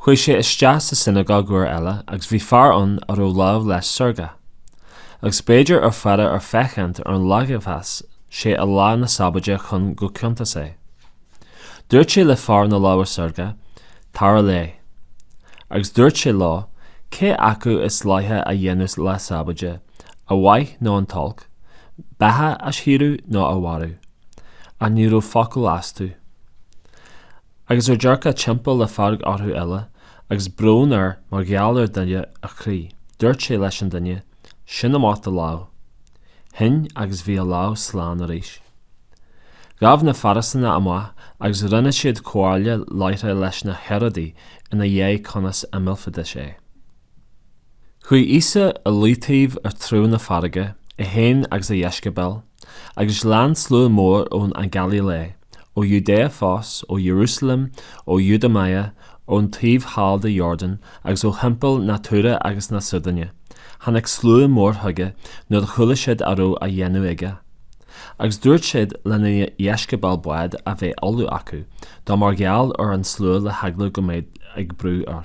Chuaigh sé isteach sa sionagóg uair eile agus bhí fear ann a raibh lámh leis seargtha. Agus bhíodar ag faire air féachaint ar an leigheasfadh sé é lá na Sabóide chun go gciontóidís é. Dúirt sé le fear na láimhe seargtha, Tar i leith. Agus dúirt sé leo, Cé acu is dleathach a dhéanamh lá Sabóide, an mhaith nó an t-olc, beatha a shaoradh nó a mharú? Ach ní raibh focal astu. Agus ar dearcadh timpeall le fearg orthu uile agus brón air mar gheall ar dúire a gcroí, dúirt sé leis an duine sín amach do lámh. Shín agus bhí a lámh slán arís. Ghabh na Fairisínigh amach agus rinne siad comhairle láithreach leis na Héaródaigh ina aghaidh conas a millfidís é. Chuaigh Íosa i leataobh i dtreo na farraige, é féin agus a dheisceabail, Agus lean slua mór ón nGailíl, ó Iúdáia fós, ó Iarúsailéim, ó Iodúmáia, ón taobh thall de Iordáin, agus ó thimpeall na Tuíre agus na Síodóine, tháinig slua mór chuige nuair a chuala siad a raibh á dhéanamh aige. Agus dúirt siad lena dheisceabail bád a bheith ullamh acu dó mar gheall ar an slua le heagla go mbead ag brú air.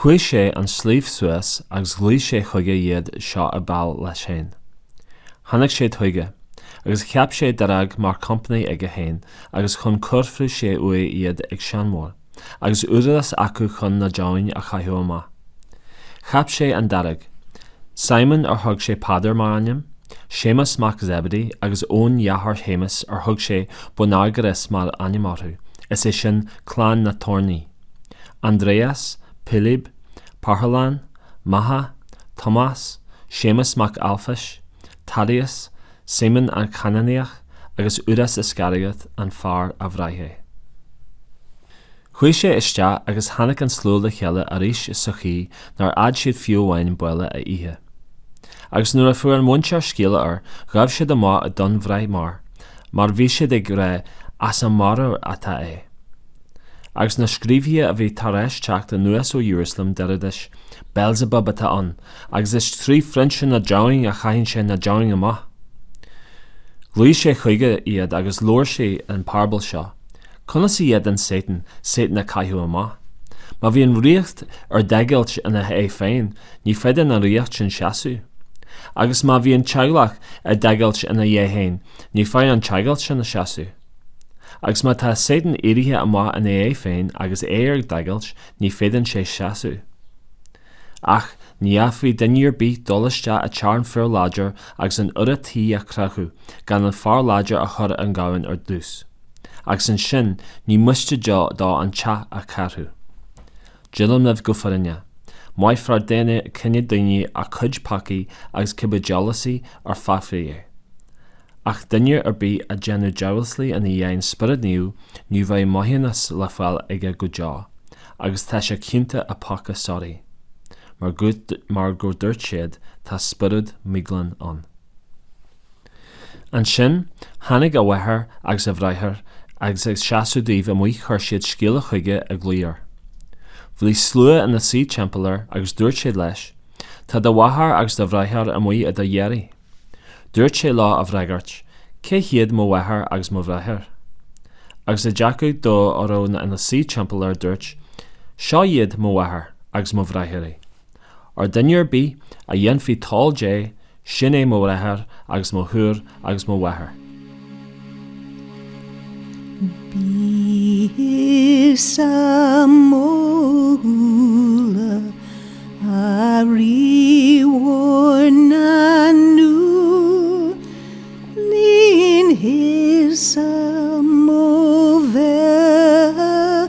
Chuaigh sé an sliabh suas agus ghlaoigh sé chuige iad seo ab áil leis féin. Tháinig siad chuige, agus cheap sé dáréag mar company aige féin agus chun cuirfeadh sé uaidh iad ag seanmóir, agus údarás acu chun na deamhain a chaitheamh amach. Cheap sé an dáréag. Simon ar thug sé Peadar mar ainm, Séamus mac Zebedee agus Eoin deartháir Shéamais ar thug sé Boanerges mar ainm orthu, is é sin, clann na toirní. Andreas, Pilib, Parthalán, Matha, Tomás, Séamus Mac Alphais, Thaddeus, Simon an Canánaíoch agus Iúdás Iscariót an fear a bhraith é. Chuaigh sé isteach agus tháinig an slua le chéile arís sa chaoi nár fhéad siad fiú amháin béile a ithe. Agus nuair a fuair a mhuintir scéala air ghabh siad amach chun breith air mar bhí siad ag rá 'as a mheabhair atá é'. Agus na scríobhaithe a bhí tar éis teacht anuas ó Iarúsailéim deiridís, Beelzebub atá ann, agus is trí phrionsa na ndeamhan a chaitheann sé na deamhain amach. Ghlaoigh sé chuige iad agus labhair sé an parabal seo, Conas a fhéadann Satan Satan a chaitheamh amach? Má bhíonn ríocht ar deighilt ina haghaidh féin ní féidir don ríocht sin seasamh. Agus má bhíonn teaghlach ar deighilt ina aghaidh féin ní fhéadfaidh an teaghlach sin a seasamh. Agus má tá Sátan éirithe amach ina aghaidh féin agus é ar deighilt ní fhéadann sé seasamh. Ach ní fhéadfadh duine ar bith dul isteach i dteach fir láidir agus an urra tí a chreachadh gan an fear láidir a chur i ngéibheann ar dtús, agus ansin ní miste dó an teach a chreachadh. Deirim libh go fírinneach, maithfear don chine daonna a gcuid peacaí agus cibé diamhaslaí ar feadh fé é. Ach duine ar bith a dhéanfadh diamhasla in aghaidh an Spioraid Naoimh ní bheidh maithiúnas le fáil aige go deo agus tá sé ciontach i bpeaca síoraí. Mar go ndúirt siad tá spiorad míghlan ann. Ansin tháinig a mháthair agus a bhráthair agus ag seasamh dóibh amuigh chuir siad scéala chuige á ghlaoch. Bhí slua ina suí timpeall air agus dúirt siad leis, Tá do mháthair agus do bhráthair amuigh do d'iarraidh. Dúirt sé leo á bhfreagairt, Cé hiad mo mháthair agus mo bhráthair? Agus ag dearcadh dó ar a raibh ina suí timpeall air dúirt, Seo iad mo mháthair agus mo bhráithre. Óir duine ar bith a dhéanfaidh toil Dé, sin é mo bhráthair agus mo shiúr agus mo mháthair. Bí thusa mo shúile, a Rí mhór na ndúl, líon thusa mo bheatha.